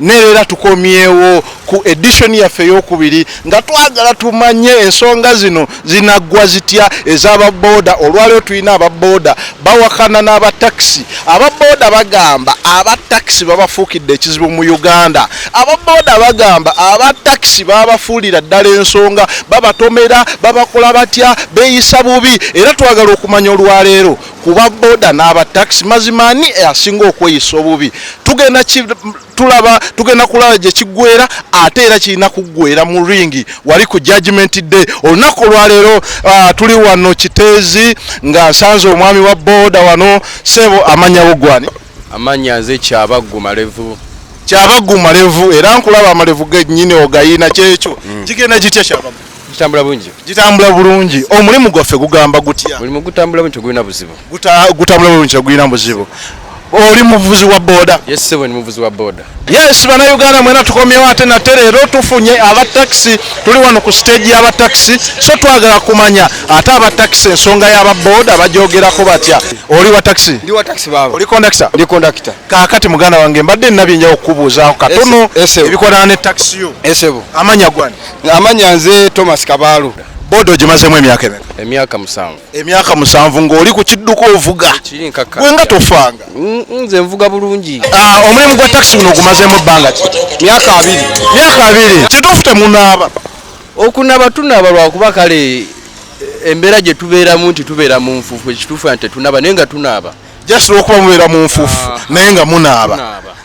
nereera tukomyewo ku edition yaffe eyokubiri nga twagala tumanye ensonga zino zinaggwa zitya ez'ababooda olwaliwo tulina ababooda bawakana n'abatakisi ababooda bagamba abatakisi babafuukidde ekizibu mu uganda ababooda bagamba abatakisi babafuulira ddala ensonga babatomera babakola batya beeyisa bubi era twagala okumanya olwaleero kuba boda n'aba taxi mazima ani asinga okweyisa obubi tugenda tulaba tugenda kulaba gye kiggwera ate era kirina kuggwera mu ringi wali ku judgment day olunaku olwaleero uh, tuli wano kiteezi nga nsanze omwami wa boda wano sebo amanya bugwani amanya nze kyabaggu malevu kyabaggu malevu era nkulaba amalevu genyini ogayina kyekyo mm. kigenda kitya kyabaggu gitambula bulungi gitambula bulungi omulimu gwaffe gugamba gutya omulimu gutambula bulungi tegulina buzibu gutambula bulungi tegulina buzibu oli muvuzi wa boda yes sebo ni muvuzi wa boda yes bana uganda mwena tukomyewo ate nate leero tufunye aba taxi tuli wano ku stage y'aba taxi so twagala kumanya ate aba taxi ensonga y'aba boda bajogerako batya oli wa taxi ndi wa taxi baba oli conductor ndi conductor kakati muganda wange mbadde nina byenjawo kukubuuzaako katono ebikwatana ne taxi yo esebo amanya gwani Amanya nze Thomas Kabaalu. Boda ogimazemu emyaka emeka? Emyaka musanvu. Emyaka musanvu ng'oli ku kidduka ovuga. Kiri nkaka. Gwe nga tofanga. Mm, mm, nze nvuga bulungi. Ah, omulimu gwa taxi guno ogumazemu ebbanga ki? Myaka abiri. Myaka abiri. Kituufu temunaaba. Okunaaba tunaaba lwakuba kale embeera gye tubeeramu nti tubeera mu nfuufu ekituufu nti tetunaaba naye nga tunaaba. Just lwokuba mubeera mu nfuufu ah. naye nga munaaba.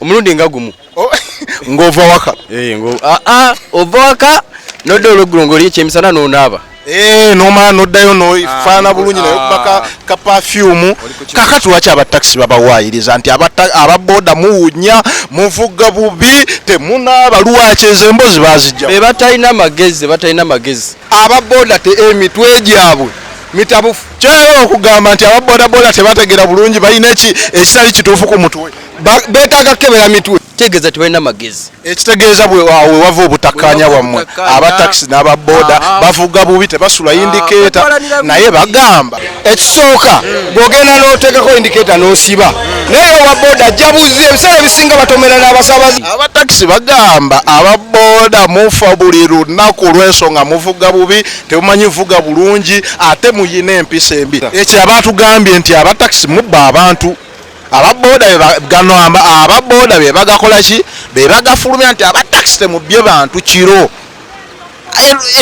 omulundi nga gumu oh, ng'ova waka eh, ah, ah, ova waka nodda olweggulo ng'oli ekyemisana n'onaaba eh, nomala noddayo nofaana ah, bulungi naye kubaka ka pafyumu kakati lwaki abatakisi babawaayiriza nti ababoda muwunya muvugga bubi temunaaba lwaki ezo embozi bazijja be batalina magezi batalina magezi ababoda te emitwe gyabwe mitabufu kyoyagala okugamba nti aba bodaboda tebategera bulungi balina ekitali kituufu ku mutwe betaaga kukebera mitwe kitegeeza tebalina magezi ekitegeeza bwewawe wava obutakkaanya bwammwe abatakisi n'ababoda ah, ah. bavuga bubi tebasula ah, indikeeta naye bagamba ekisooka bwogenda n'oteekako indikeeta n'osiba naye owa boda jabuzi ebiseera ebisinga batomera n'abasabazi abatakisi bagamba ababoda mufa buli lunaku lw'ensonga muvuga bubi tebumanyi vuga bulungi ate muyina empisa embi ekyo abatugambye nti abatakisi mubba abantu ababoda gano ababoda bebagakolaki bebagafulumya nti abatakisi temubbye bantu kiro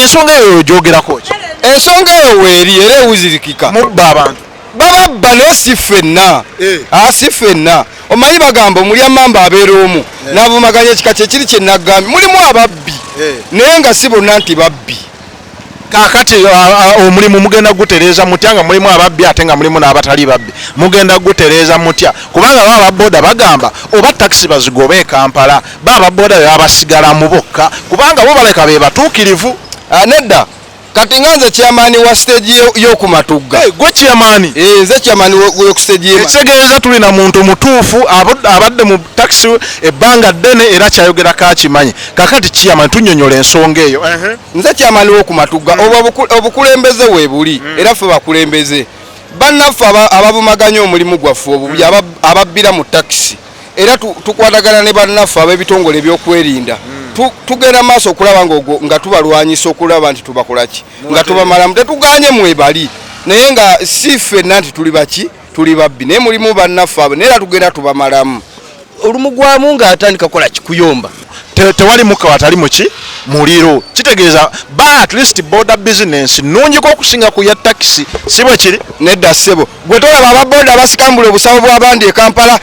ensonga eyo yogyogerako ki ensonga eyo weeri era ewuzirikika mubba abantu bababba naye si ffenna eh. ah, si ffenna omanyi bagamba omulya mamba abeera omu eh. navumaganya ekika kyekiri kyenagambye mulimu ababbi eh. naye nga si bonna nti babbi kakati ah, ah, omulimu mugenda gutereeza mutya nga mulimu ababbi ate nga mulimu n'abatali babbi mugenda gutereeza mutya kubanga ba ababoda bagamba oba takisi bazigoba e kampala ba ababoda bebabasigalamu bokka kubanga bo baleka be batuukirivu nedda kati nga nze chairman wa stage y'oku matugga eh, gwe chairman eh, nze chairman w'oku stage y'e ekitegeeza tuli na muntu mutuufu abadde mu taxi ebbanga ddene era kyayogera kakimanyi kakati chairman tunyonyola ensonga eyo nze chairman w'oku matugga hmm. obwo obukulembeze weebuli hmm. era ffe bakulembeze bannaffe ababumaganya omulimu gwaffe obubya hmm. ababbira mu taxi era tukwatagana ne bannaffe ab'ebitongole ebyokwerinda hmm. tugenda maaso okulaba nga tubalwanyisa okulaba nti tubakolaki nga tubamalamu tetuganye mwebali naye nga si ffenna nti tuli baki tuli babbi naye mulimu bannaffe abo naye era tugenda tubamalamu olumugwamu ng'atandika kukola kikuyomba tewali mukka watali muki muliro kitegeeza ba at least border business nungiko okusinga ku ya takisi si bwe kiri nedda ssebo gwe tolaba aba boda abasikambula obusawo bwabandi e kampala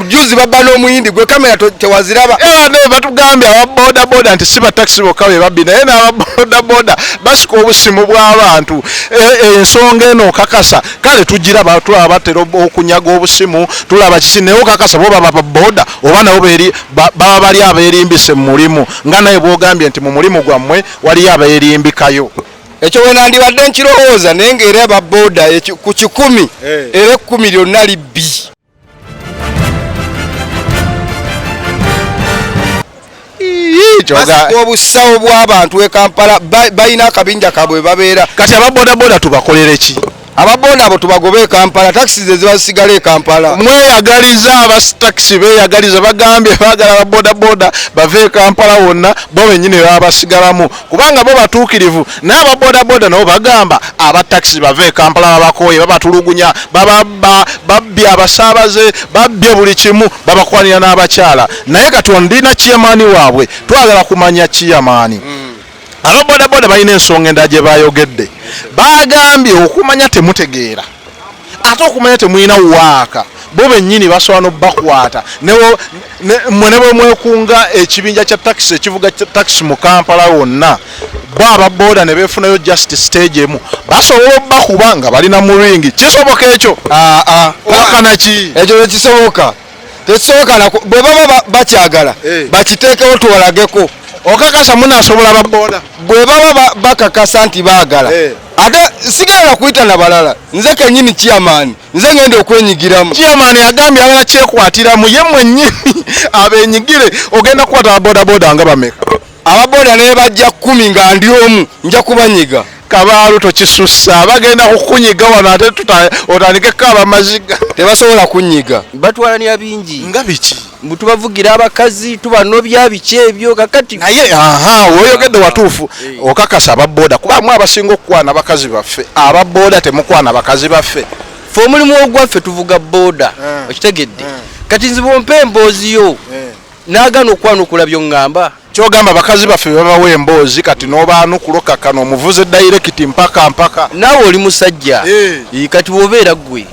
juzi babba n'omuyindi gwe kamera tewaziraba era naye batugambye aba boda boda nti si batakisi bokka be babbi naye n'aba boda boda basika obusimu bw'abantu e, e, ensonga eno okakasa kale tugiraba tulaba batera okunyaga obusimu tulaba kiki naye okakasa bo baba baboda oba nabo baba bali abeerimbise mu mulimu nga naye bwogambye nti mu mulimu gwammwe waliyo abeerimbikayo ekyo wenandibadde nkirowooza naye nga era baboda ku kikumi eh. era ekkumi lyonna libbi obusawo bw'abantu e kampala balina akabinja kabwe babeera kati ababodaboda tubakolereki ababoda abo tubagoba ekampala takisi ze ziba zisigala ekampala mweyagaliza abatakisi beyagaliza bagambye bagala ababodaboda bava ekampala wonna bo benyini babasigalamu kubanga bo batuukirivu naye ababodaboda nabo bagamba abatakisi bava ekampala babakooye babatulugunya babbye abasaabaze babbye buli kimu babakwanira n'abakyala naye kati ondina kiyamaani waabwe twagala kumanya kiyamaani mm. Aba bodaboda balina ensonga endala gye baayogedde. Baagambye okumanya temutegeera ate okumanya temulina waaka bo bennyini basobola n'obakwata mwe ne bwe mwekunga ekibinja kya takisi ekivuga takisi mu kampala wonna bo aba booda ne beefunayo just stage emu basobola obakuba nga balina muringi kisoboka ekyo aa ah, ah. kakanaki ekyo ekisoboka tekisobokana bwe baba bakyagala eh. bakiteekewo tuwalageko okakasa munasobola baboda bwe baba bakakasa nti baagala eh. ate sigenda kuyita na balala nze kenyini chairman nze ngenda okwenyigiramu chairman yagambye agala kyekwatiramu ye mwenyini abenyigire ogenda kukwata babodaboda nga bameka ababoda nebajja kumi nga ndi omu nja kubanyiga kabaalu tokisussa bagenda kukunyiga wano ate otandikeko abamaziga tebasobola kunyiga batwalanira bingi nga biki tubavugira abakazi tubanobya biki ebyo kakati naye aha woyogedde watuufu eh. okakasa ababoda kubamu abasinga okukwana bakazi baffe ababoda temukwana bakazi baffe fe omulimu ogwaffe tuvuga boda eh. okitegedde eh. kati nziba ompa emboozi yo Nagana okwanukula byongamba. Kyogamba bakazi baffe bebabawa emboozi kati nobaanukula okakkana omuvuze direct mpaka mpaka. Naawe oli musajja. Eeh. Kati bwobeera ggwe.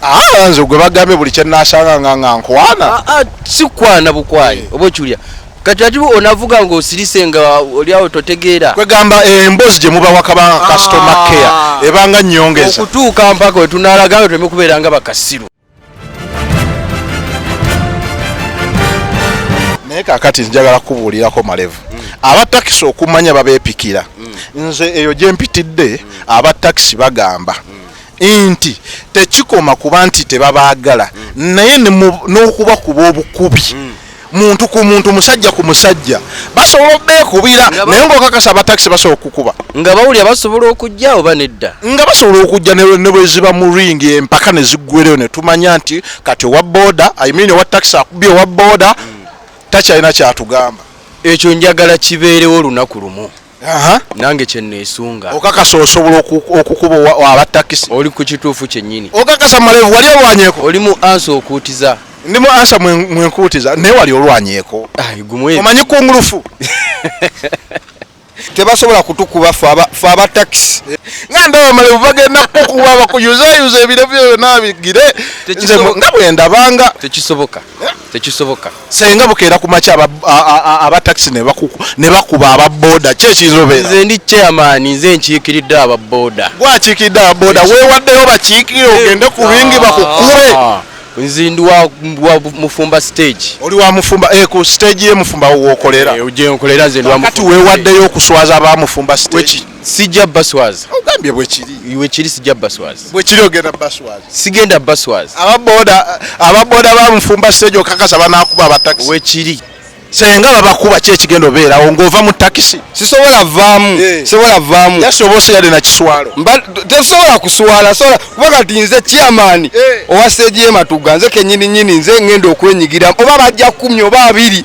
Aa ah, nze gwe bagambye buli kyenasanga nga nga nkwana. Aa ah, ah, sikwana bukwayi oba okiwulira. Kati ati onavuga nga osirise nga oli awo totegeera. Kwegamba eh, emboozi gye mubawa kabanga customer care ebanga nnyongeza. Okutuuka mpaka we tunaalagayo tuleme kubeera nga bakasiru. naye kakati njagala kukubuulirako malevu aba takisi okumanya babeepikira nze eyo gye mpitidde aba takisi bagamba nti tekikoma kuba nti tebabaagala naye n'okubakuba obukubi muntu ku muntu musajja ku musajja basobola obeekubira naye ngaokakasa abatakisi basobola okukuba nga bawulira basobola okujja oba nedda nga basobola okujja ne bweziba mu ringi empaka ne ziggwereyo ne tumanya nti kati owa booda imiini owa takisi akubye owa booda takyalina kyatugamba ekyo njagala kibeerewo olunaku lumu nange kyenesunga okakasa osobola okukuba aba takisi oli ku kituufu kyennyini okakasa malevu wali olwanyeko oli mu ansa okuutiza ndi mu ansa mwenkuutiza naye wali olwanyeko omanyi kungulufu tebasobola kutukuba fe aba takisi nga ndaba malevu bagenda kukuba bakuyuzayuza ebire byona bigire nga bwendabanga tekisoboka eh? tekisoboka senga bukeera ku makya aba taxi ne bakuba aba boda ki ekiyinza obeera nze ndi chairman nze nkiikiridde aba boda gwe akiikiridde aba boda weewaddeyo bakiikirire ogende ku bingi bakukube ah, nze ndi wa mufumba stage oli wa mufumba eh, ku stage ye mufumba wookolera eh, gyenkolera nze ndi wa mufumba kati weewaddeyo okuswaza aba mufumba stage sijja baswazi ogambye bwekiri wekiri sijja baswazi bwekiri ogenda baswazi sigenda baswazi ababoda ababoda bamufumba sejo kakasa banakuba abatakisi wekiri senga babakuba ki ekigenda obeerawo ng'ova mu takisi sisobola vaamu eh. sisobola vaamu yasobola osigade na kiswalo tesobola kuswala sobola kuba kati nze chairman eh. owa sejeematuga nze kenyini nyini nze ngenda okwenyigira oba bajja kumi oba abiri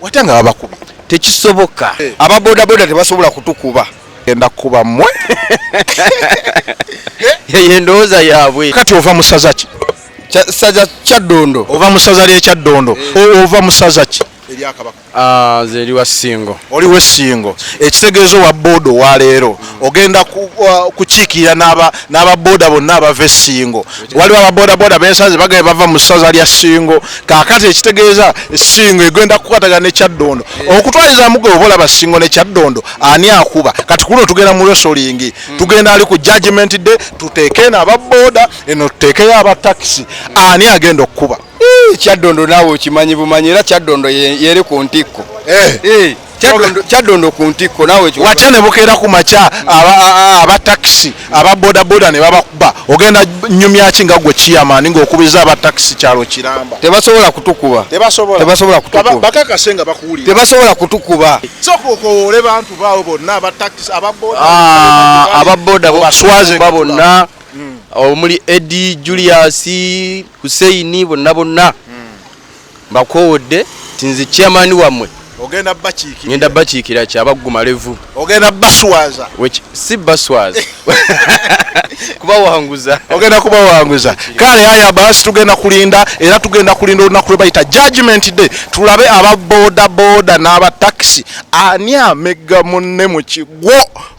wata nga babakubye tekisoboka eh. aba boda boda tebasobola kutukuba genda kukuba mwe yeyo endowooza yaabwe kati ova mu saza ki saza kyaddondo ova mu saza lyekyaddondo eh. ova mu saza ki eryakabaka ah, nze eri wa singo oli we singo ekitegeeza owa booda owa leero ogenda kukiikirira n'ababooda bonna abava esingo waliwo ababoodaboda bensanze bagee bava mu ssaza lya singo kakati ekitegeeza singo egenda kukwatagana nekyaddondo eh. okutwalizamu gwe oba olaba singo nekyaddondo ani akuba kati kuno tugenda mu resolingi hmm. tugenda ali ku judgment day tuteeke eno ababooda eno tuteekeyo abatakisi ani agenda okukuba kyaddondo naawe okimanyi bumanyi era kyaddondo yeri ku ntikko eh. Eh. kyaddondo ku ntikko nawe watya ne bukeera ku makya aba takisi aba bodaboda ne babakuba ogenda nyumyaki nga gwe kiyamani ng'okubiriza aba takisi kyalo kiramba tebasobola kutukuba tebasobola kutubakakase nga bakuwulira tebasobola kutukuba soka okowoole bantu baawo bonna aba takisi aba boda ah, aba boda baswazeba bonna hmm. omuli edi julius huseini bonna bonna Mbakoowodde nti nze chairman wammwe ogenda bakiikira ngenda bakiikira ki abagguma levu ogenda baswaza si baswaza kubawanguza ogenda kubawanguza kale haya basi tugenda kulinda era tugenda kulinda olunaku lwe bayita judgment day tulabe aba boda boda n'aba taxi ani amegga munne mu kigwo